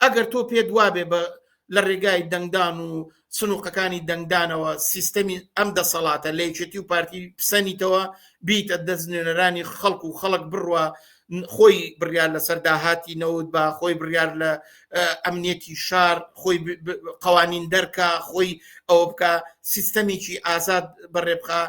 ئەگەر تۆ پێت وابێ بە لە ڕێگای دەنگدان و سنووقەکانی دەنگدانەوە سیستەمی ئەم دەسەڵاتە لە یەکێتی و پارتی پسەنیتەوە بیتە دەست نوێنەرانی خەڵک و خەڵک بڕوە خۆی بڕیار لەسەر داهاتی نەوت بە خۆی بڕیار لە ئەمنیەتی شار خۆی قوانین دەرکە خۆی ئەوە بکە سیستەمێکی ئازاد بەڕێبخە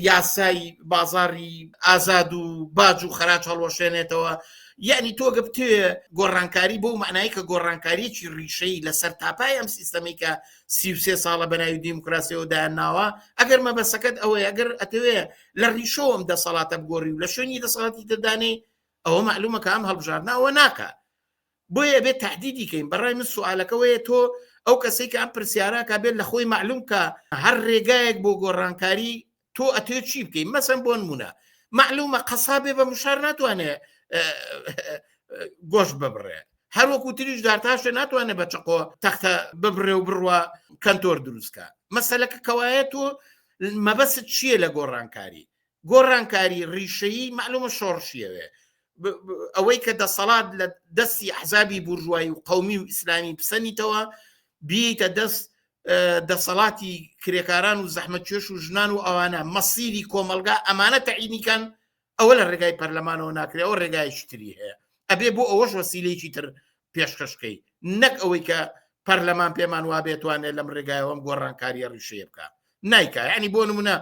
یاسای بازاری ئازاد و باج و خەراج هەڵوەشێنێتەوە یعنی تۆ گەبتێ گۆڕانکاری بۆ معنای کە گۆڕانکاریی ڕیشەی لەسەر تاپای ئەم سیستەمی کە سیوسێ ساڵە بەناوی دیموکراسیەوە دایانناوە ئەگەر مەبەسەکەت ئەوەی ئەگەر ئەتەوێ لە ڕیشەوەم دەسەڵاتە بگۆری و لە شوێنی دەسەڵاتی دەدانێ ئەوە معلومەکە ئەم هەڵبژاردنەوە ناکە بۆیە ئەبێت تەهدیدی کەین بەڕای من سوالەکە وەیە تۆ ئەو کەسەی کە ئەم پرسیاراکە بێت لە خۆی معلوم کە هەر ڕێگایەک بۆ گۆڕانکاری تۆ ئەتێ چی بکەین مەسم بۆن مونە معلومە قەسابێ بە مشار ناتوانێ گۆشت ببڕێ هەروەکو تریش دارتاشە ناتوانێت بە چقۆ تەختە ببرێ و بڕوە کەنتۆر دروستکە مەسلەکە کەوایەت و مەبەست چییە لە گۆڕانکاری گۆڕانکاری ڕیشەیی مەعلومە شۆڕشیەوێ ئەوەی کە دەسەڵات لە دەستی حزابی بورژوایی و قومی و ئیسلامی پسەنیتەوە بیتە دەست دەسەڵاتی کرێکاران و زەحمەتێش و ژنان و ئەوانە مەسیری کۆمەلگا ئەمانە تەعینیکان ئەوە لە ڕێگای پەرلەمانەوە ناکرێەوە ڕێگایشتری هەیە ئەبێ بۆ ئەوەش وەسیلەیەکی تر پێشکەشکەی نەک ئەوەی کە پەرلەمان پێمان وابێ توانێت لەم ڕێگایەوەم گۆڕانکاریە ڕیشەیە بکە نایکە ینی بۆ نمونە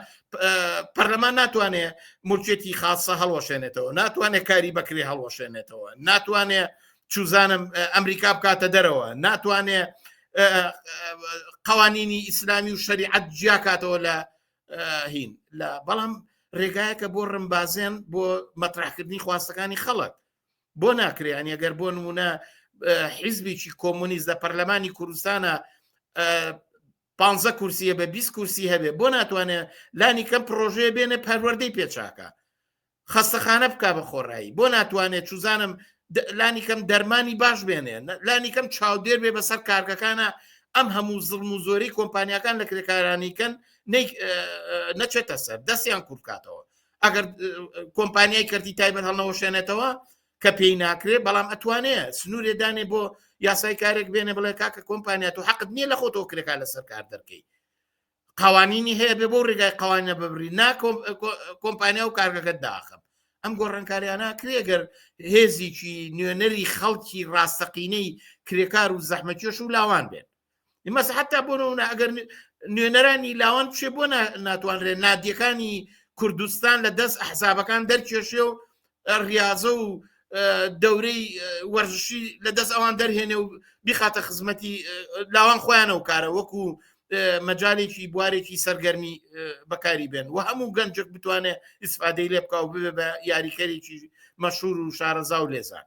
پەرلەمان ناتوانێ مولکێتی خاصە هەڵوەشێنێتەوە ناتوانێت کاری بەکرێ هەڵوەشێنێتەوە ناتوانێ چوزانم ئەمریکا بکاتە دەرەوە ناتوانێ قوانینی ئیسلامی و شەریعەت جیاکاتەوە لە هین لە بەڵام ڕێگایەکە بۆ ڕمبازێن بۆ مەترحکردنی خواستەکانی خەڵک بۆ ناکرێ یانی ئەگەر بۆ نمونە حیزبێکی کۆمونیست لە پەرلەمانی کوردستانە پ کورسیە بە 20 کورسی هەبێ بۆ ناتوانێت لانی کەم پرۆژەیە بێنە پەروەردەی پێچاکە خەستەخانە بک بە خۆڕایی بۆ ناتوانێت چوزانم لانی کەم دەرمانی باش بێنێ لانی کەم چاودێر بێ بەسەر کارگەکانە ئەم هەموو زڵم و زۆری کۆمپانیەکان لە کرێکارانیکەن نەچێتە سەر دەستیان کوردکاتەوە ئەگەر کۆمپانیای کردی تایبەت هەڵنەوەشێنێتەوە کە پێی ناکرێ بەڵام ئەتوانێ سنوورێ دانێ بۆ یاسای کارێک بێنێ بڵێ کاکە کۆمپانیات و حەقت نییە لە خۆ تۆکرێکا لەسەر کار دەکەی قوانینی هەیە بێ بۆ ڕێگای قوانە ببری نا کۆمپانیا و کارگەکە داخم ئەم گۆڕنکاریانە کرێگەر هێزیی نوێنەری خەڵکی ڕاستەقینەی کرێکار و زەحمەکێش و لاوان بێت مەس حتا بۆ نمونە ئەگەر نوێنەرانی لاوان بچێ بۆ ناتوانرێ نادیەکانی کوردستان لە دەست حسابەکان دەرکێشێ و ڕاضە و دەورەی وەرزشی لە دەست ئەوان دەرهێنێ و بخاتە خزمەتی لاوان خۆیانە و کارە وەکو مەجالێکی بوارێکی سەرگەرمی بەکاری بێن و هەموو گەنجێک بتوانێت ئیسفادەی لێ بکە و بێ بە یاریکەرێکی مەشهور و شارەزا و لێزان